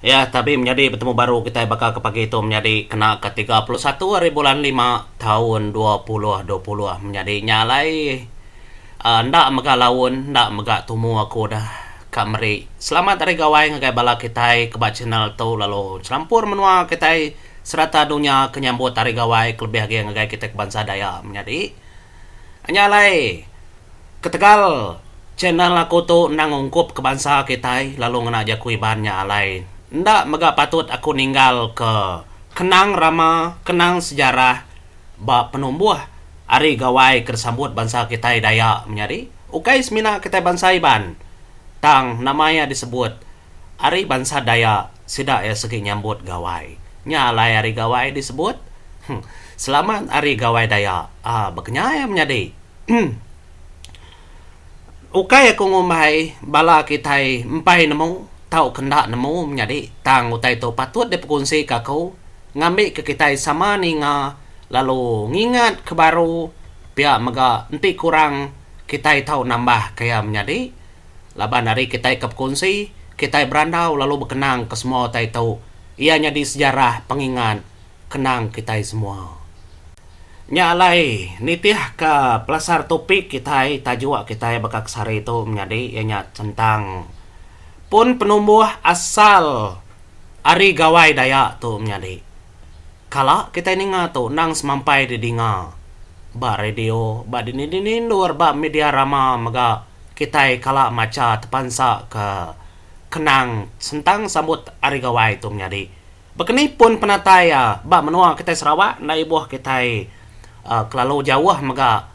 Iya tabi menyadi betemu baru kitai baka ke pagi tu menyadi kena ke tiga puluh satu ari bulan lima taun dua puluh dua puluh menyadi nya alai uhh enda mega laun enda mega tumu aku dah ka meri selamat ari gawai ngagai bala kitai ke ba channel tu lalu serampur menua kitai serata dunya ke nyambut hari gawai kelebih agi ngagai kitai ke bansa Dayak menyadi. Nya alai, ketegal channel aku tu endang ungkup ke bansa kitai lalu ngena jaku Iban nya alai enda mega patut aku ninggal ke kenang rama, kenang sejarah ba penumbuh ari gawai ke disambut bansa kitai Dayak menyadi ukai semina kitai bansa Iban tang nama iya disebut. Ari bansa Dayak, sida iya sigi nyambut Gawai. Nya alai ari Gawai disebut. Huh. Selamat Hari Gawai Dayak. Aa, bekenyai menyadi. Huh. Ukai aku ngumbai bala kitai empai nemu tauka enda nemu menyadi, tang utai tu patut dipekunsika aku ngambika kitai sama ninga lalu ngingat ke baru pia mega enti kurang kitai tau nambah ke iya menyadi. Laban ari kitai ke bekunsi, kitai berandau lalu bekenang ke semua utai tu, iya nyadi sejarah pengingat kenang kitai semua. Nya alai, nitihka pelasar topik kitai tajuk kitai baka ke sehari tu menyadi iya nya sentang pun penumbuh asal ari Gawai Dayak tu menyadi. Kala kitai ninga tu endang semampai didinga ba radio, ba dini-dini endur ba media rama mega. Kitai kala macha tepansa ke kenang sentang sambut Hari Gawai tu menyadi bekeni pun penatai iya ba menua kitai Sarawak enda ibuh kitai kelalu jauh mega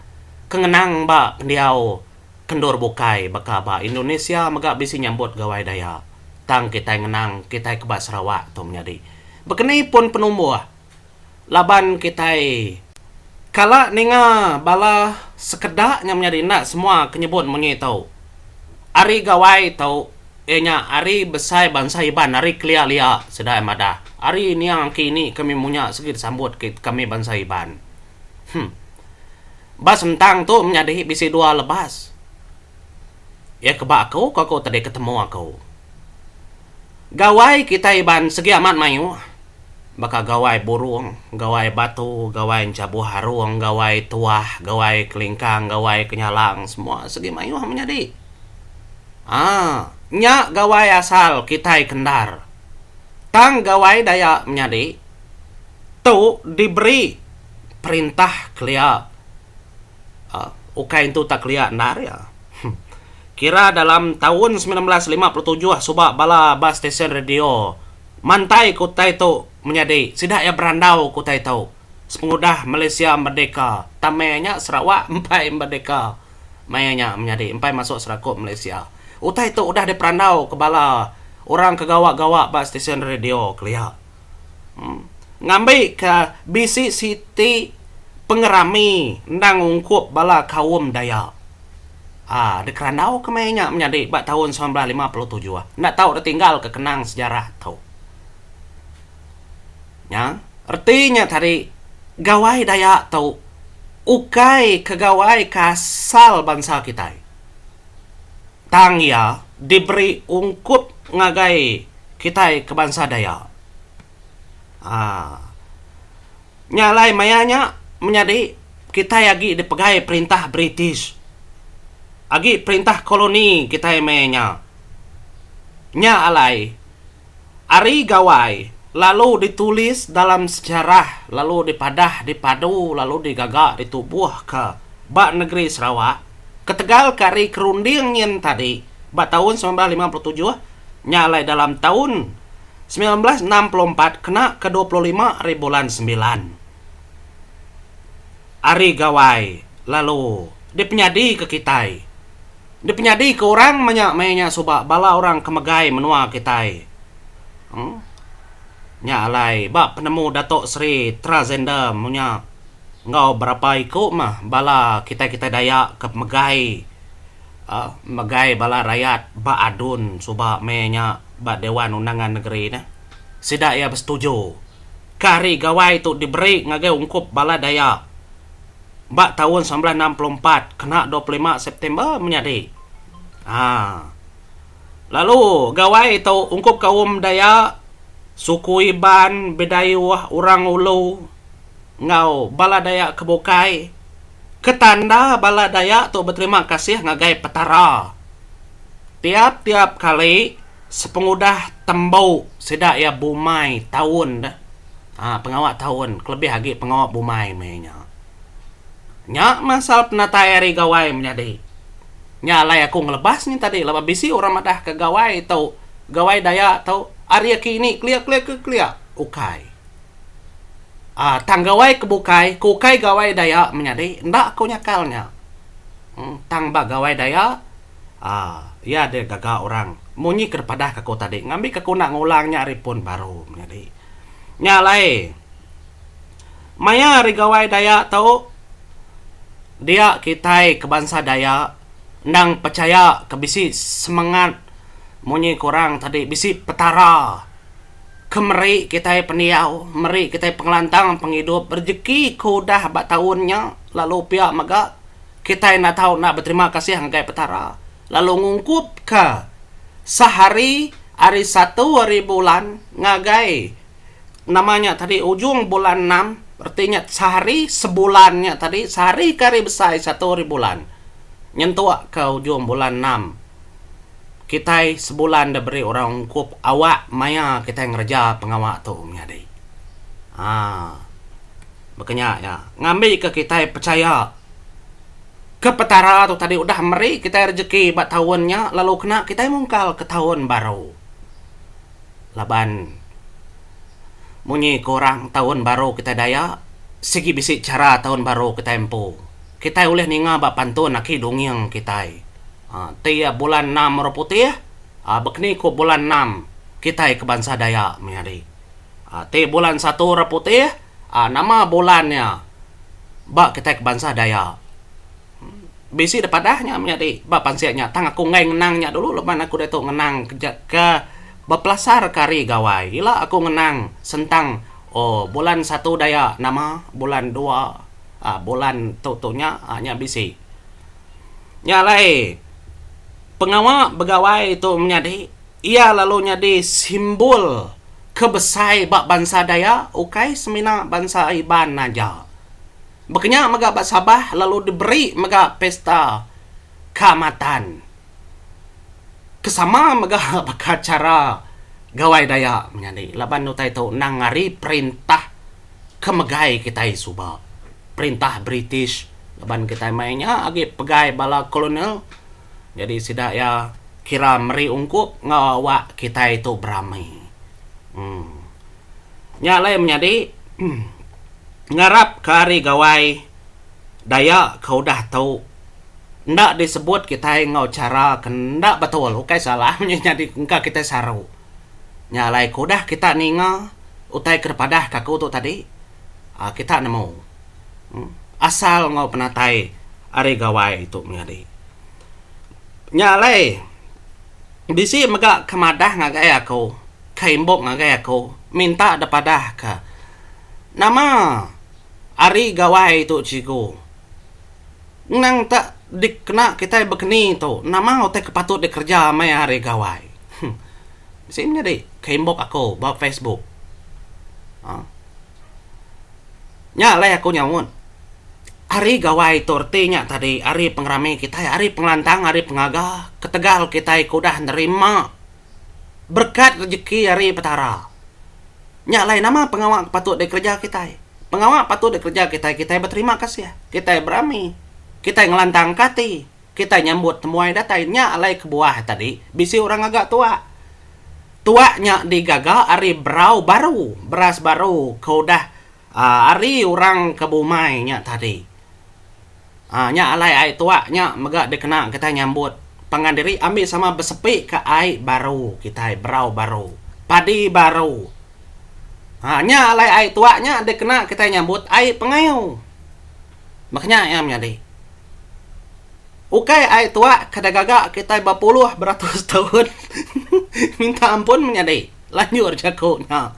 ke ngenang ba pendiau kendur bukai baka ba Indonesia mega bisi nyambut Gawai Dayak tang kitai ngenang kitai ke ba Sarawak tu menyadi bekeni pun penumbuh laban kitai kala ninga bala sekeda nya menyadi enda semua ke nyebut mung nyi tu. Ari gawai tu iya nya ari besai bansa Iban ari kelia lia sida madah ari niang aki ini kami munya sigi disambut ke kami bansa Iban. Hum. Ba sentang tu menyadi bisi dua lebas. Iya ke ba aku ko ku tadi ketemu aku. Gawai kitai iban segi amat mayuh baka gawai burung, gawai batu, gawai enchabuh arung, gawai tuah, gawai kelingkang, gawai kenyalang semua segi mayuh menyadi. Aa nya gawai asal kitai ke endar. Tang gawai Dayak menyadi tu diberi perintah kelia. ukai entu tak kelia endar iya. Kira dalam taun semilan belas lima puluh tujuh suba bala ba stesen radio mantai ke utai tu menyadi sida iya berandau ke utai tu sepengudah Malaysia merdeka tama iya nya Sarawak empai merdeka maya nya menyadi empai masuk serakup Malaysia. Utai tu udah diperandau ke bala orang ke gawa-gawa ba stesen radio kelia. Ngambika bisi siti pengerami endang ungkup bala kaum Dayak uhh dikerandauka maya nya menyadi ba taun semilan belas lima puluh tujuh enda tau ditinggalka kenang sejarah tu. Nya reti nya tadi Gawai Dayak tu ukai ke gawai ke asal bansa kitai. tang iya diberi ungkup ngagai kitai ke bansa Dayak. Aa. Nya alai maya nya menyadi kitai agi dipegai perintah British. Agi perintah koloni kitai maya nya. Nya alai. Ari Gawai lalu ditulis dalam sejarah lalu dipadah dipadu lalu digaga ditubuhka ba negeri Sarawak ketegal ke ari kerunding nyin tadi ba taun semilan belas lima puluh tujuh nya alai dalam taun semilan belas enam puluh empat kena ke dua puluh lima ari bulan sembilan Ari Gawai lalu dipenyadika kitai. dipenyadi ke orang meh nya meh nya suba bala orang ke megai menua kitai emm nya alai ba penemu dato sri tragender meh nya enggau berapa iku meh bala kitai kitai dayak ke megai aaa megai bala rayat ba adun suba meh nya ba dewan undangan negeri neh sida iya besetuju ka hari gawai tu diberi ngagai ungkup bala dayak ba taun semilan belas enam puluh empat kena dua puluh lima September menyadi. Haa. Lalu gawai tu ungkup kaum Dayak, suku Iban, Bidayuh, Orang Ulu enggau bala Dayak ke bukai ke tanda bala Dayak tu beterima kasih ngagai Petara tiap-tiap kali Sepengudah tembu sida iya bumai taun deh aaa pengawa taun kelebih agi pengawa bumai meh nya. Nya masal penatai ari gawai menyadi. Nya alai aku ngelebas nya tadi laban bisi orang madah ke gawai tu gawai daya tu ari aki ini kelia kelia ke kelia ukai aaa tang gawai ke bukai ke ukai gawai daya menyadi enda aku nyakal nya. Tang ba gawai daya. aaa iya deh gaga orang munyi ke padahka aku tadi ngambi ke kuna ngulang nya ari pun baru menyadi. Nya alai maya ari gawai Dayak tu dia kitai ke bansa Dayak endang pechaya ke bisi semangat munyi ke orang tadi bisi petara ke meri kitai pendiau meri kitai pengelantang pengidup rejeki ke udah ba taun nya lalu pia mega Kitai enda tau enda beterima kasih ngagai Petara lalu ngungkupka sehari ari satu ari bulan ngagai nama nya tadi ujung bulan enam reti nya sehari sebulan nya tadi sehari ke hari besai satu ari bulan nyentuk ke ujung bulan enam kitai sebulan da beri orang ungkup awak maya kitai ngereja pengawa tu menyadi um Baka nya iya ngambika kitai pechaya ke Petara tu tadi udah meri kitai rejeki ba taun nya lalu kena kitai mungkalka taun baru. Laban munyi ke orang taun baru kitai Dayak sigi bisi chara taun baru kitai empu. Kitai ulih ninga ba pantun aki dunging kitai uhh ti iya bulan enam orang putih uhh baka ni ku bulan enam kitai ke bansa Dayak meh ari uhh ti bulan satu orang putih Aa nama bulan nya ba kitai ke bansa Dayak. Bisi deh padah nya menyadi ba pansik nya tang aku enggai ngenang nya dulu laban aku diatu ngenang keja ke bepelasarka ari gawai ila aku ngenang sentang oh bulan satu Dayak nama bulan dua aa bulan tu tu nya aa nya bisi. Nya alai pengawa begawai tu menyadi iya lalu nyadi simbol. ke besai ba bansa Dayak ukai semina bansa Iban aja. Baka nya mega ba Sabah lalu diberi mega pesta Kaamatan ke sama mega baka chara Gawai Dayak menyadi laban utai tu endang ari perintah ke megai kitai suba, perintah British laban kitai mai nya agi pegai bala kolonial. Jadi sida iya kira meri ungkup enggau awak kitai tu berami. Um Nya alai menyadi ngarapka ari gawai Dayak ke udah tu enda disebut kitai enggau chara ke enda betul ukai salah nya nyadi engka kitai saru. Nya alai ke udah kita ninga utai ke dipadahka aku tu tadi um kita nemu. asal enggau penatai ari gawai tu menyadi. Nya alai bisi mega ke madah ngagai aku, ke imbok ngagai aku minta dep adah ke nama ari gawai tu cikgu. Endang tak dikena kitai bekeni tu nama utai ke patut dikereja meh ari gawai. Huh bisi menyadi ke imbok aku ba facebook. Aaa. Nya alai aku nyaut. Ari gawai tu reti nya tadi ari pengerami kitai ari pengelantang ari pengaga ketegal kitai ke udah nerima berkat rejeki ari Petara. Nya alai nama pengawa ke patut dikereja kitai? Pengawa patut dikereja kitai kitai beterima kasih, kitai berami, kitai ngelantangka ati. Kitai nyambut temuai datai nya alai kebuah tadi bisi orang ngaga tuak. Tuak nya digaga ari berau baru, beras baru ke udah ari orang ke bumai nya tadi. Aa nya alai ai tuak nya mega dikena kitai nyambut pangan diri ambi sama besepi ke ai baru kitai, berau baru, padi baru. Aa nya alai ai tuak nya dikena kitai nyambut ai pengayu. Baka nya iya menyadi. Ukai ai tuak ke dah gaga kitai bepuluh beratus taun minta ampun menyadi. Lanjur jaku nya.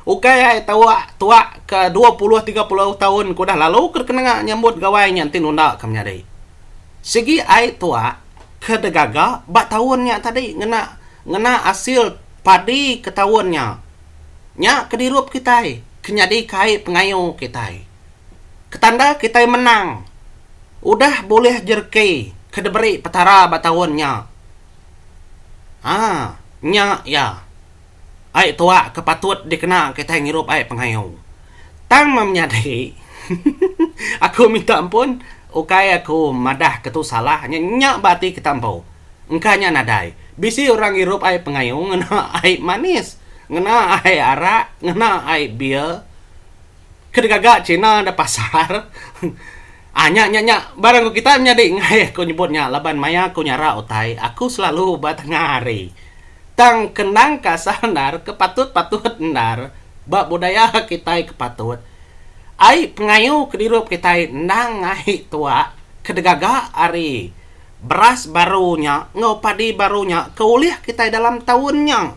Ukai ai tuak tuak ke dua puluh tiga puluh taun ke udah lalu ke dikena nyambut gawai nya enti nunda ke menyadi. Sigi ai tuak ke dah gaga ba taun nya tadi ngena ngena asil padi ke taun nya. Nya ke dirup kitai ke nyadika ai pengayu kitai. Ketanda kitai menang udah bulih jerki ke diberi Petara ba taun nya. Haa nya iya ai tuak ke patut dikena kitai ngirup ai pengayu. Tang meh menyadi aku minta ampun ukai aku madah ke tu salah nya nya ba ati kita empu. Engka nya nadai bisi orang ngirup ai pengayu ngena ai manis, ngena ai arak, ngena ai beer. ke degaga china da pasar um nya nya nya barang ku kita nyadi ngaih ku nyebut nya laban maya ku nyara utai aku selalu ba tengah hari tang kendang ka asal endar ke patut patut endar ba budaya kitai ke patut ai pengayu ke dirup kitai endang ai tuak ke degaga ari beras baru nya enggau padi baru nya ke ulih kitai dalam taun nya.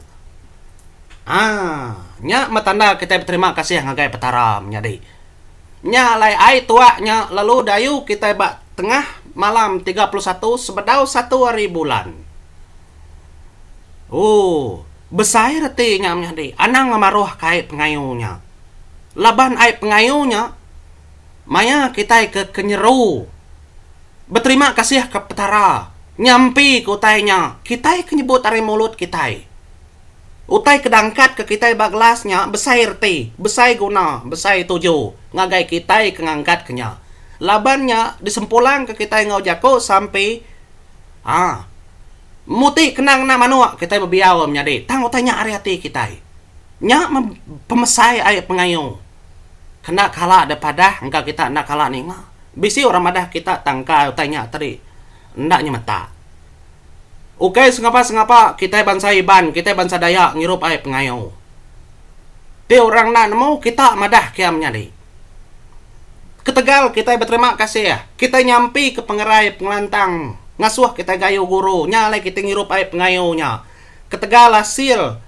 Haa nya meh tanda kitai beterima kasih ngagai Petara menyadi. Nya alai ai tua nya lalu dayu kitai ba tengah malam tiga puluh satu sebedau satu hari bulan. Ooh besai reti nya menyadi anang ngemaruh ka ai pengayu nya. Laban ai pengayu nya Maya kitai ke kenyeru beterima kasih ke Petara ngampi ke utai nya kitai ke nyebut ari mulut kitai. Utai ke dangkat ke kitai ba gelas nya besai reti, besai guna, besai tuju ngagai kitai ke ngangkat ke nya. Laban nya disempulangka kitai enggau jaku sampi aa muti kena ngena manuk kitai bebiau menyadi tang utai nya ari ati kitai. Nya meh pemesai ai pengayu. Kena kala deh padah engka kita enda kala ninga. Bisi orang madah kita tangkai utai nya tadi enda nyemeta. Ukai sengapa-sengapa kitai bansa Iban, kitai bansa Dayak ngirup ai pengayo. Ti orang enda nemu kita madah kiam nyadi. Ketegal kitai beterima kasih, kitai nyampika pengerai pengelantang ngasuh kitai gayu guru nya alai kitai ngirup ai pengayo nya. Ketegal asil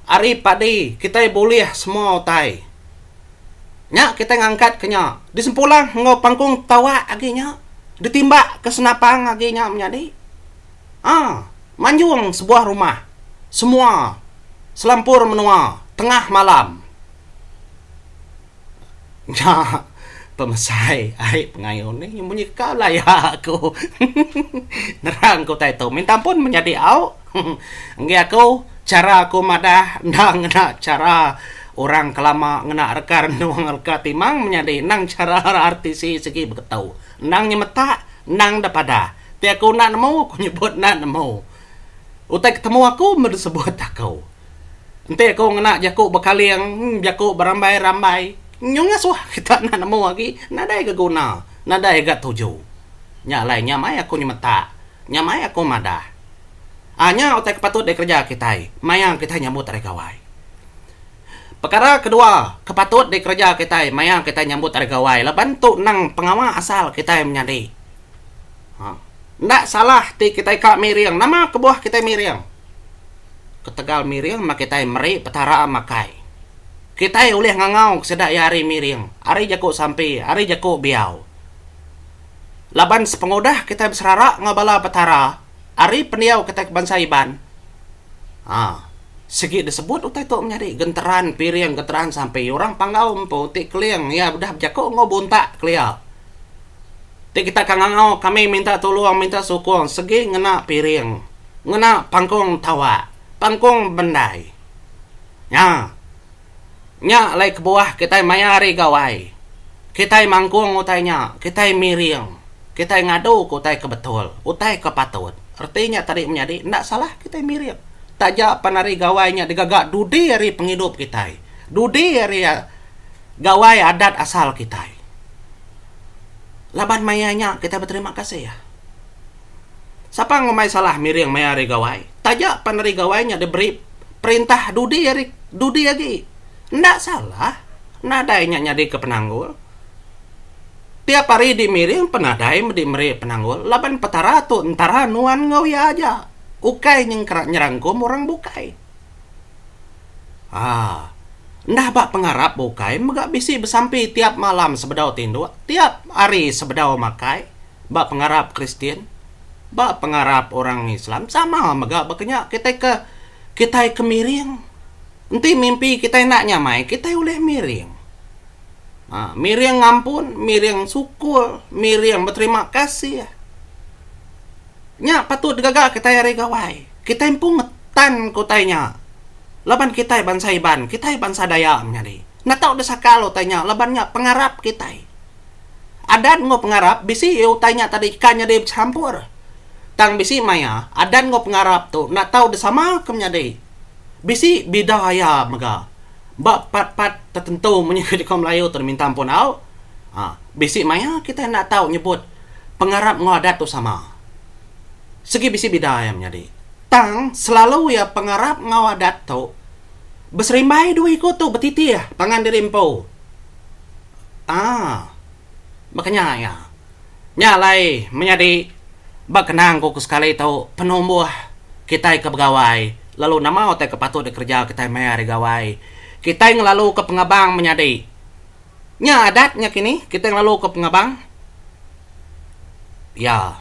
ari padi kitai bulih semua utai. Nya kitai ngangkat ke nya disempulang enggau pangkung tawa agi nya ditimba ke senapang agi nya menyadi aa manjung sebuah rumah semua selampur menua tengah malam. Nya pemesai ai pengayun nih munyi ka laya aku nerang ku utai tu minta ampun menyadi au enggai aku chara aku madah enda ngena chara orang kelama ngena reka renung reka timang menyadi endang chara RTC sigi beketu endang nyemetak endang enda padah ti aku enda nemu aku nyebut enda nemu utai ketemu aku meh disebut aku. Enti aku ngena jaku bekaling, jaku berambai-rambai, nyau ngasuh kita enda nemu agi, nadai ga guna, nadai ga tuju. Nya alai nya mai aku nyemetak, nya mai aku madah. Aa nya utai ke patut dikereja kitai maya kitai nyambut ari gawai. Pekara kedua ke patut dikereja kitai maya kitai nyambut ari gawai laban tu nang pengawa asal kitai menyadi. Aa enda salah ti kitai ka miring, nama kebuah kitai miring? ketegal miring mah kitai meri Petara makai. Kitai ulih ngangau ke sida iya ari miring, ari jaku sampi, ari jaku biau. Laban sepengudah kitai beserara enggau bala Petara ari pendiau kitai ke bansa Iban, aa, sigi disebut utai tu menyadi genteran piring, genteran sampi. Orang Panggau empu ti Keling iya udah bejaku enggau buntak kelia. Ti kita ka ngangau kami minta tulung minta sukung segi ngena piring, ngena pangkung tawak, pangkung bendai. Nya. Nya alai kebuah kitai maya hari gawai. Kitai mangkung utai nya, kitai miring, kitai ngaduka utai ke betul, utai ke patut. Reti nya tadi menyadi enda salah kitai miring. Taja pan hari gawai nya digaga dudi hari pengidup kitai. Dudi hari. gawai adat asal kitai. Laban maya nya kitai beterima kasih. Sapa ngumbai salah miring maya hari gawai, taja pan hari gawai nya diberi perintah dudi hari dudi agi. Enda salah nadai nya nyadika penanggul. Tiap hari dimiring pun nadai medi meri penanggul laban Petara tu Entara nuan enggau iya aja, ukai nyengkera nyerangkum orang bukai. Haa. Enda ba pengarap bukai mega bisi besampi tiap malam sebedau tinduk, tiap hari sebedau makai ba pengarap Kristian. Ba pengarap orang Islam sama mega ba kenya kitai ke kitai ke miring. Enti mimpi kitai enda nyamai kitai ulih miring. Haa miring ngampun, miring sukul, miring beterima kasih. Nya patut digaga kitai ari Gawai. Kitai empu ngetan ke utai nya laban kitai bansa Iban, kitai bansa Dayak menyadi. Natau deh sakal utai nya laban nya pengarap kitai. Adat enggau pengarap bisi iya utai nya tadi ika nyadi bechampur. Tang bisi maya adat enggau pengarap tu enda tau disama ke menyadi. Bisi bida iya mega ba pat-pat tertentu munyi ke nyukung Melayu tu diminta empu enggau. Bisi maya kitai enda tau nyebut. pengarap enggau adat tu sama. Sigi bisi bida iya menyadi. Tang, selalu iya pengarap enggau adat tu beserimbai dua iku tu betitih pangan diri empu. Aa. Baka nya iya. Nya alai menyadi ba kenang ku ke sekali tu penumbuh kitai ke begawai lalu nama utai ke patut dikereja kitai maya hari gawai. Kitai ngelaluka pengabang menyadi. Nya adat nya kini kitai ngelalu ko pengabang. Ya.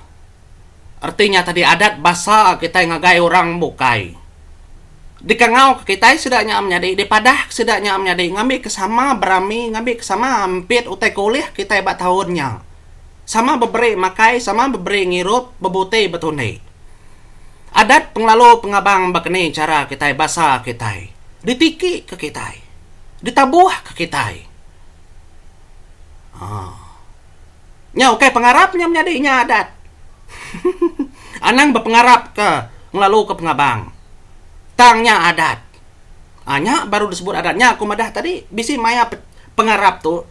Reti nya tadi adat basa kitai ngagai orang bukai. Dikangau ke kitai sida nya menyadi dipadah ke sida nya menyadi ngambi ke sama berami ngambi ke sama ampit utai ke ulih kitai ba taun nya. Sama beberi makai sama beberi ngirup bebuti betundi. Adat pengelalu pengabang ba keni chara kitai basa kitai. Ditiki ke kitai. ditabuhka kitai. Ha. Nya ukai pengarap nya menyadi inya adat. Anang bepengarapka ngelaluka pengabang. Tang nya adat. Ha, nya baru disebut adat. Nya aku madah tadi, bisi maya pengarap tu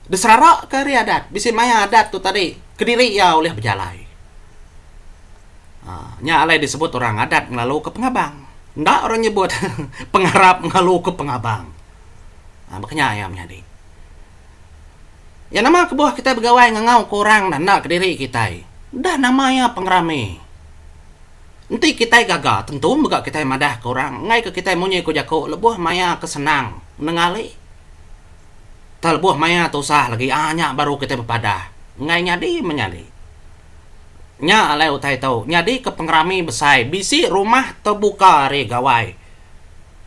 diseraraka ari adat. Bisi maya adat tu tadi kediri iya ulih bejalai. Nya alai disebut orang adat ngelaluka pengabang. Enda orang nyebut pengarap ngelaluka pengabang. Ha, baka nya iya menyadi. Ya nama kebuah kitai begawai ngangauka orang dah enda kediri kitai. Udah nama iya pengerami. Enti kitai gaga, tentu mega kitai madahka orang enggaika kitai munyi ku jaku lebuh maya ke senang nengali tau lebuh maya tusah lagi. Ha, nya baru kitai bepadah. Enggai nyadi menyadi. Nya alai utai tu nyadika pengerami besai bisi rumah tebuka ari Gawai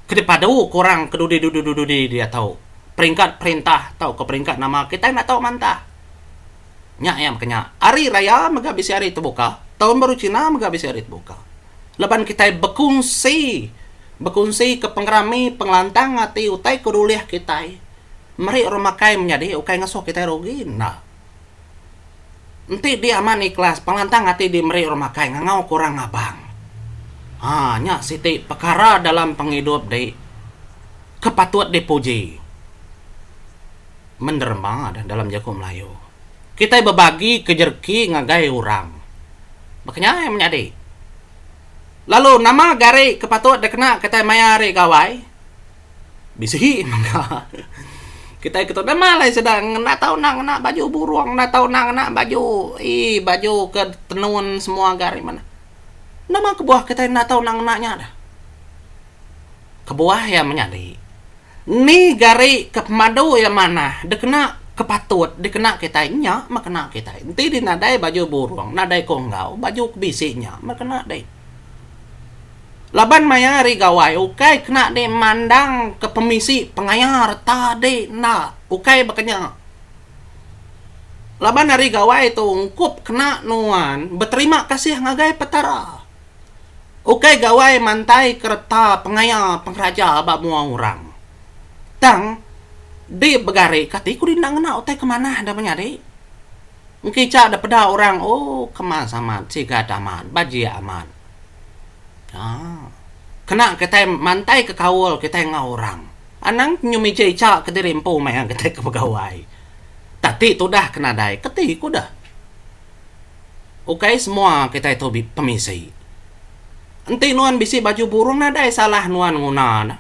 ke dipadu ke orang ke dudi-dudi-dudi diatu, peringkat perintah tauka peringkat nama kitai enda tau mantah. Nya iya mega nya, Hari Raya mega bisi hari tebuka, Taun Baru Cina mega bisi hari tebuka. Laban kitai bekunsi, bekunsika pengerami pengelantang ati utai ke dulih kitai, meri orang makai menyadi ukai ngasuh kitai rugi enda. Enti di amat ikhlas, pelantang ati di meri orang makai ngangau ke orang ngabang. Ha, nya siti pekara dalam pengidup dei ke patut di puji menderma deh dalam jaku Melayu. Kitai bebagi ke jerki ngagai orang. Baka nya ai menyadi. Lalu nama gari ke patut dikena kitai maya hari gawai? Bisi mega. Kitai ketu dema alai sida ngena tau enda ngena baju burung, enda tau enda ngena baju ee baju ke tenun semua ga ari mene. Nama kebuah kitai enda tau enda ngena nya dah. Kebuah iya menyadi ni gari ke pemadu iya manah dikena ke patut dikena kitai nya meh kena kitai. Enti dih nadai baju burung, nadai konggau, baju ke bisi nya meh kena dih. Laban maya ari gawai ukai kena dimandang ke pemisi pengayar tadi enda ukai baka nya laban ari gawai tu ungkup kena nuan beterima kasih ngagai petara ukai gawai mantai ke reta pengaya pengeraja ba mua orang tang di begari kati ku enda ngena utai ke manah da menyadi. Engkicha da peda orang oh kemas amat sigat amat bajik amat aaa kena kitai mantai ke kaul kitai enggau orang anang nyum ija icha kediri empu meh iya kitai ke begawai tak ti tudah ke nadai ke ti ku deh ukai semua kitai tu pemisi enti nuan bisi baju burung nadai salah nuan nguna ne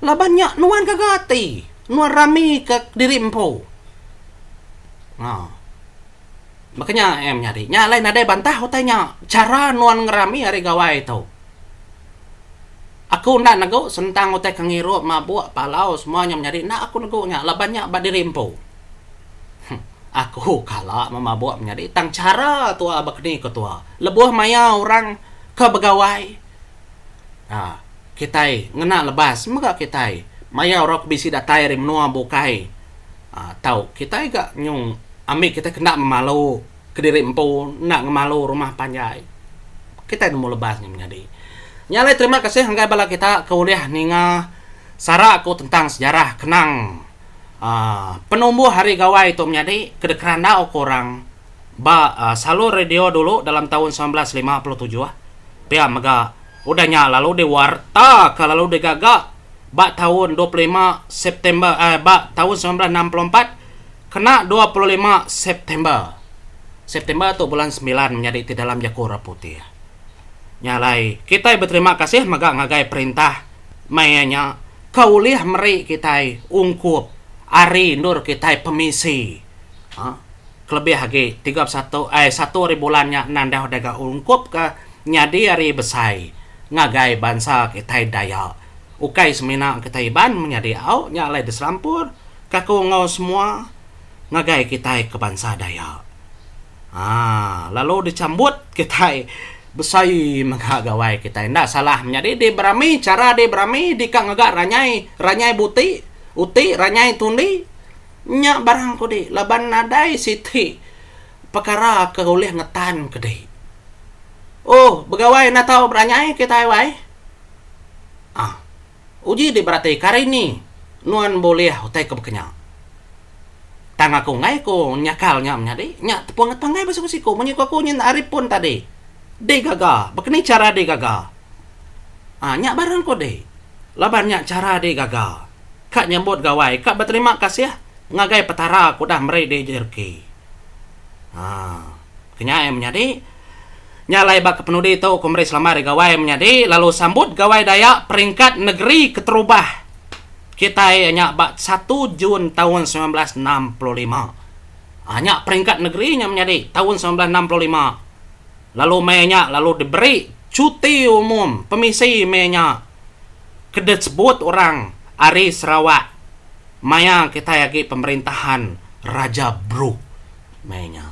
laban nya nuan gaga ati. Nuan rami ka kediri empu. Ha. Baka nya eh menyadi. Nya alai nadai bantah utai nya. Chara nuan ngerami ari gawai tu. Aku enda negu sentang utai ke ngirup, mabuk, palau semua nya menyadi. Enda aku negu nya laban nya ba diri empu. Huh. Aku kala memabuk menyadi tang chara tua bakani ke tua. Lebuh maya orang ke begawai. Aa. Kitai ngena lebas mega kitai maya orang ke bisi datai ari menua bukai aa tau kitai ga nyung ambi kitai ke enda memalu kediri empu enda ngemalu rumah panjai kitai nemu lebas nya menyadi. Nya alai terima kasih ngagai bala kita ke ulih ninga sara ku tentang sejarah kenang aa penumbuh ari gawai tu menyadi ke dikerandau ku orang ba salur radio dulu dalam taun semilan belas lima puluh tujuh pia mega udah nya lalu diwartaka lalu digaga ba taun dua puluh lima September ba taun semilan belas enam puluh empat kena dua puluh lima September. September tu bulan semilan menyadi ti dalam jaku orang putih. Nya alai kitai beterima kasih mega ngagai perintah maya nya ke ulih meri kitai ungkup ari endur kitai pemisi. Aa. Kelebih agi, tiga puluh satu ai satu ari bulan nya endang deh udah ga ungkup ke nyadi hari besai ngagai bansa kitai Dayak. Ukai semina kitai Iban menyadi au nya alai diserampur kaku enggau semua ngagai kitai ke bansa Dayak. Aa lalu disambut kitai besai mega gawai kitai enda salah menyadi di berami chara di berami di ka ngaga ranyai, ranyai buti, uti, ranyai tundi. Nya barang ku di laban nadai siti pekara ke ulih ngetan ke di. Oh, begawai enda tau beranyai kitai wai. Ah, uji di berati kari ni nuan bulih utai ke baka nya. Tang aku enggai ku nyakal nya menyadi. Nya tepung ati panggai ba siku-siku. Munyi ku aku nyin ari pun tadi. Di gaga. Baka ni chara di gaga. Ah, nya barang ku di laban nya chara di gaga. ka nyambut gawai ka beterima kasih ngagai Petara ke udah meri diri jadi reki. Haa kenyai menyadi nya alai ba kepenudi tu ku meri selamat ari gawai menyadi lalu sambut Gawai Dayak Peringkat Negeri Keterubah kitai iya nya ba satu Jun taun semilan belas enam puluh lima. Haa nya peringkat negeri nya menyadi taun semilan belas enam puluh lima lalu meh nya lalu diberi cuti umum pemisi meh nya. ke disebut orang ari Sarawak maya kitai agi pemerintahan Raja Brooke meh nya.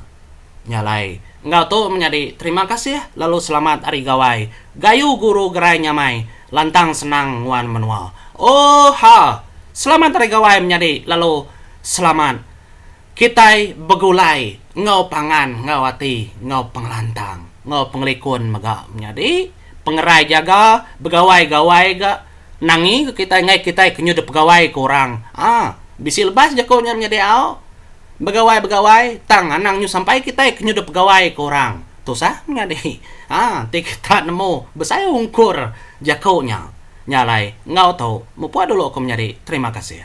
Nya alai enggau tu menyadi terima kasih lalu selamat Hari Gawai Gayu Guru Gerai Nyamai lantang senang nguan menua. Oh ha! Selamat Hari Gawai menyadi lalu selamat kitai begulai enggau pangan enggau ati enggau pengelantang enggau pengelikun mega menyadi. pengerai jaga begawai gawai ga nangi ga kitai ngai kitai ke nyudah pegawai ke orang aa bisi lebas jaku nya menyadi au begawai begawai tang anang nyu sampai kitai ke nyudah pegawai ke orang tusah menyadi aa enti kita nemu besai ungkur jaku nya nya alai enggau tu mupuk dulu aku menyadi terima kasih.